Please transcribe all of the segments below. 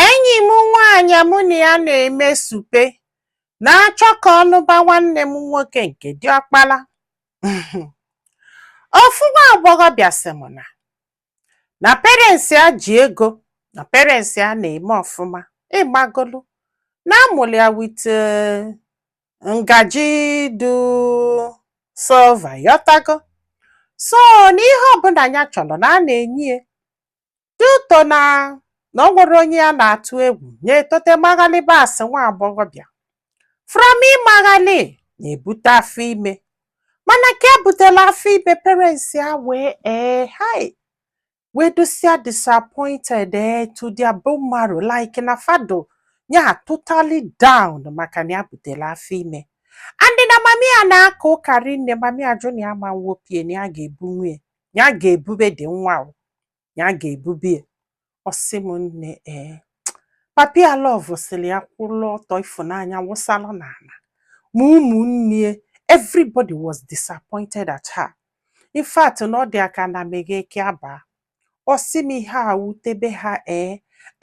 Enyi m nwaanyị mụ na ya na-eme supe na-achọ ka ọ nụba nwanne m nwoke nke diọkpala. Ofu nwa agbọghọbịa sị m na na parents ya ji ego na parents ya na-eme ọfụma ị magolu na a mụrụ ya with eh, ngaji dụ silver ịghọtago so na ihe ọbụna ya chọrọ na a na-enye ya due to na na o nwero onye ya na-atụ egwu ya etote maghalịba as nwa agbọghọbịa from ịmaghalị ya ebute afọ ime mana ka ya butela afọ ime parents ya wee ee hai wee dụsịa disappointed ee to their bone marrow like na fa dụ ya totally down maka na ya butela afọ ime and na mami ya na-aka ụka rinne mami ya jụ na ya ama wopụ ya na ya ga-ebu ya na ya ga-ebube the nwa o ya ga-ebube ya ọ sị m nne ee papi ya lọvụsịrị ya kwụrụ ọtọ ịfụnanya wụsalụ n'ana ma ụmụnne ya everybody was disappointed at her in fact na ọ dị ya ka ana meghee ka ya baa ọ sị m ihe a wutebe ha ee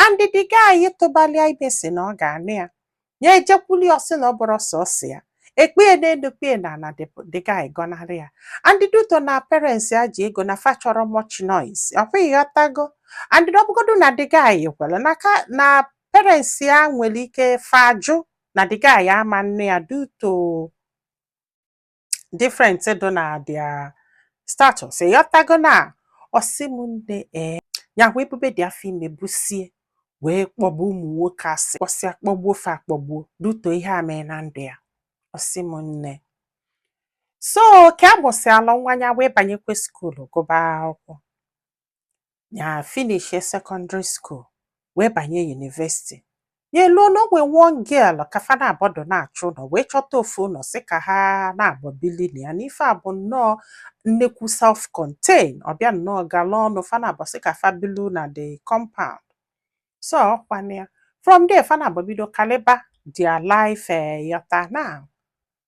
and the guy tụbalị ya ime sị na ọ ga-anụ ya ya ejekwuli ọ sị na ọ bụrọ sọọsọ ya ekpee n'enu kpee n'ana the guy gọnarị ya and due to na parents ya ji ego na fa achọrọ much noise ọkwa ịghọtago and na ọ bụgodu na the guy kwela n'aka na parents ya nwere ike fa jụ na the guy ama nụ ya due to different dụ na their status ịghọtago na ọ sị m nne ee ya wee bube the afọ ime busie wee kpọgbuo ụmụ nwoke asị kpọsịa kpọgbuo fa akpọgbuo due to ihe a mee na ndụ ya ọ sị m nne so ka ya busịala nwa ya wee banyekwa school gụba akwụkwọ ya finishie secondary school wee banye university ya eluo na o nwee one girl ka fa naabọ dụ na-achọ ụnọ wee chọta ofu ụnọ sị ka ha naabọ bili na ya n'ife a bụ nnọọ nnekwu self contain ọ bịa nnọọ gala ọnụ fa naabọ sị ka fa bilu na the compound so ọkwa na ya from there fa naabọ bido kaliba their life eh, ịghọta now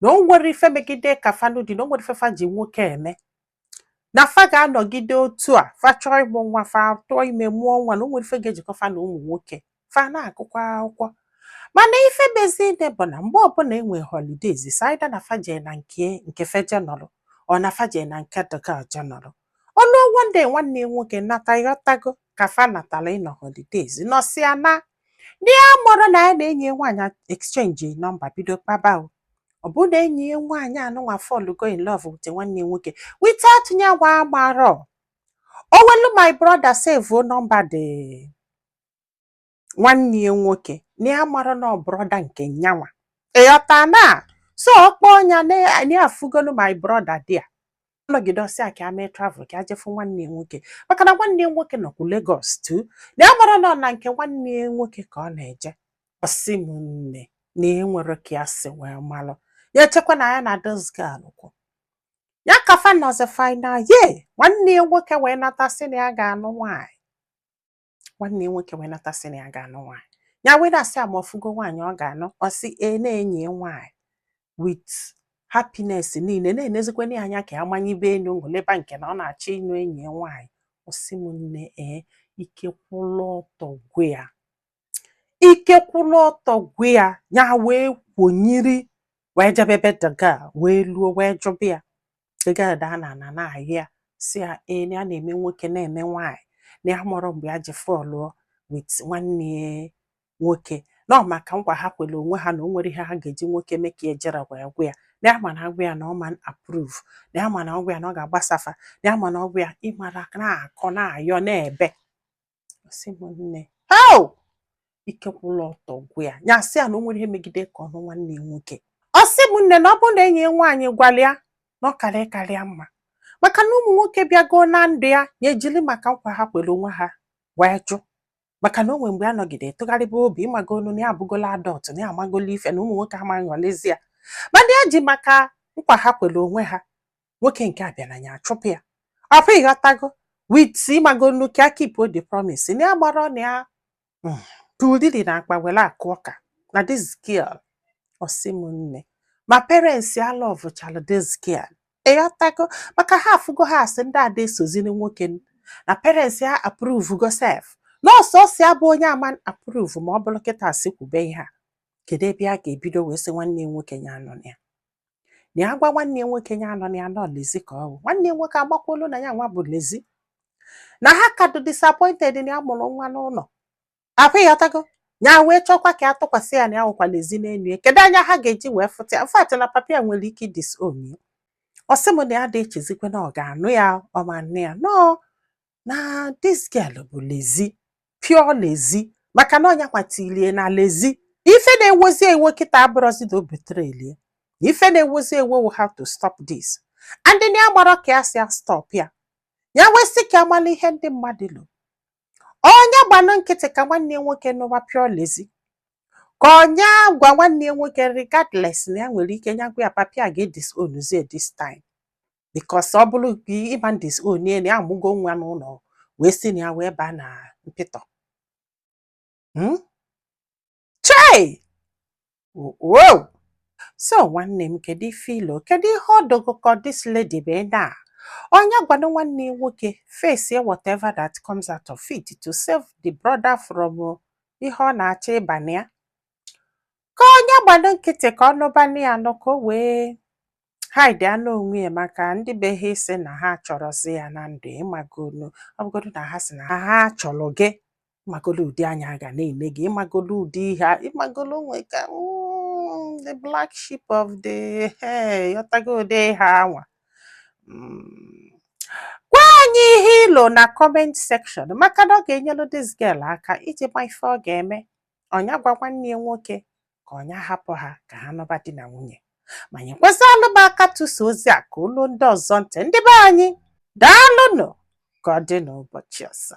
na o nwero ife megide ka fa nụ di na o nwero ife fa ji nwoke eme na fa ga-anọgide otu a fa chọọ ịmụ nwa fa tụọ ime mụọ nwa na o nwero ife ga-ejikọ fa na ụmụ nwoke fa na-agụkwa akwụkwọ mana ife mezili bụ na mgbe ọbụna e nwe holidays it's either na fa jee na nke nke fa je nọrọ or na fa jee na nke the girl je nọrọ o luo one day nwanne ya nwoke nata ịghọtago ka fa natala ịnọ holidays nọsịa na ndị a marọ na ya na enyi ya nwaanyị exchange nọmba bido kpaba o. ọ bụ na enyi ya nwaanyị anụnwa fọlụgo in love with nwanne ya nwoke without ya nwa amarọ o welu my brother save nọmba dị nwanne ya nwoke na ya amarọ na ọ brọda nke nyanwa ịghọta na so ọ kpọọ nya na-afụgolu my brọda dị a nọgide ọ sị ya ka ya mee travel ka ya je fụ nwanne ya nwoke maka na nwanne ya nwoke nọkwu Lagos too na ya amarọ na ọ na nke nwanne ya nwoke ka ọ na-eje ọ sị m nne na enwere ka ya si wee malụ ya echekwa na ya na this girl kwụ ya ka fa nọzi final year nwanne ya nwoke wee nata sị na ya ga-anụ nwaanyị nwanne ya nwoke wee nata sị na ya ga-anụ nwaanyị ya wee na-asị ya ma ọ fụgo nwaanyị ọ ga-anụ ọ sị e na enyi ya nwaanyị with happiness niile na-enezikwana ya anya ka ya manyibe enu goliba nke na ọ na-achọ ịnụ enyi ya nwaanyị ọ sị m nne ee ike kwụlụ ọtọ gwụ ya ike kwụlụ ọtọ gwụ ya ya wee kwonyiri wee jebe ebe the girl wee luo wee jụba ya the girl daa n'ana na-arịọ ya sị ya ee na ya na-eme nwoke na-eme nwaanyị na ya amarọ mgbe ya ji fọlụọ with nwanne ya nwoke na ọ maka nkwa ha kwere onwe ha na o nwere ihe ha ga-eji nwoke mee ka ejirọ wee gwa ya na ya ma na agwa ya na ọ ma approve na ya ma na ọ gwa ya na ọ ga-agbasafa na ya ma na ọ gwa ya ịmara na-akọ na-ayọ na-ebe ọ sị m nne hao ike kwụlụ ọtọ gwụ ya ya sị ya na o nwere ihe megide ka ọ nụ nwanne ya nwoke ọ sị m nne na ọ bụ na enyi ya nwaanyị gwalụ ya na ọ karịa karịa mma maka na ụmụ nwoke bịagoo na ndụ ya ya ejiri maka nkwa ha kwere onwe ha wee jụ maka na o nwere mgbe ya nọgide tụgharịba obi ịmagolu na ya abụgola adult na ya amagola ife na ụmụ nwoke amaghị ọlezi ya mana ya ji maka nkwa ha kwere onwe ha nwoke nke a bịara ya achụpụ ya afọ ịghọtago with ịmagonu ka ya keep the promise na ya amarọ na ya mm, tulili na akpa were akụ ọka na this girl ọ sị m nne ma parents ya lọvụchara this girl ịghọtago maka ha afụgo ha asị ndị ada esoziri nwoke n- na parents ya approve go sef na ọ sọsọ ya bụ onye ama approve ma ọ bụrụ kịta asị kwube ihe a kedu ebe a ga-ebido wee sị nwanne ya nwoke ya anụna ya na ya gwa nwanne ya nwoke ya anụna ya na ọ lezi ka ọ bụ nwanne ya nwoke amakwuolu na ya nwa bụ lezi na ha ka dị disappointed na ya mụrụ nwa n'ụlọ akwa ịghọtago ya wee chọkwa ka ya tụkwasị ya na ya wụkwa lezi n'enu ya kedu anya ha ga-eji wee fụta in fact na papa ya nwere ike disown ya ọ sị m na ya dị echezikwe na ọ ga-anụ ya ọ ma nne ya nọọ na this girl bụ lezi pure lezi maka na ọ nya kwatilie na lezi ife na-ewozi ewo kịta abụrụzi na ọ bụ literally ife na-ewozi ewo we have to stop this and na ya amarọ ka ya si a-stop ya ya wee sị ka a mala ihe ndị mmadụ lo ọ nya gbanụ nkịtị ka nwanne ya nwoke nụwa pure lezi ka ọ nya gwa nwanne ya nwoke regardless na ya nwere ike nya gwa ya papa ya ga-edisownzie this time because ọ bụrụ gị ị ma disown ya na ya amụgo nwa n'ụlọ wee si na ya wee baa na mpịtọ Hmm? chei wow so nwanne m kedu ife i lo kedu ihe ọ dị gị ka this lady mee na ọ nya gwanụ nwanne ya nwoke face whatever that comes out of it to save the brother from uh, ihe ọ na-achọ ịba na ya ka ọ nya gbanụ nkịtị ka ọ nụbanụ ya nụ ka o wee hide anụ onwe ya maka ndị be ha ịsị na ha achọrọzi ya na ndụ ị magolu ọ bụgodu na ha sị na ha ha chọrọ gị ị magolu ụdị anya a ga na-ene gị ị magolu ụdị ihe a- ị magolu onwe ka mm, the black sheep of the eh, ị ghọtago ụdị ihe anwa Mm. gwa anyị ihe i lo na comment section maka na ọ ga-enyelu this girl aka iji ma ife ọ ga-eme ọ nya gwa nwanne ya nwoke ka ọ nya hapụ ha ka ha nọba di na nwunye ma nyekwazịalụ m aka tụsa ozi a ka o luo ndị ọzọ ntị ndị be anyị daalụnụ ka ọ dị n'ụbọchị ọzọ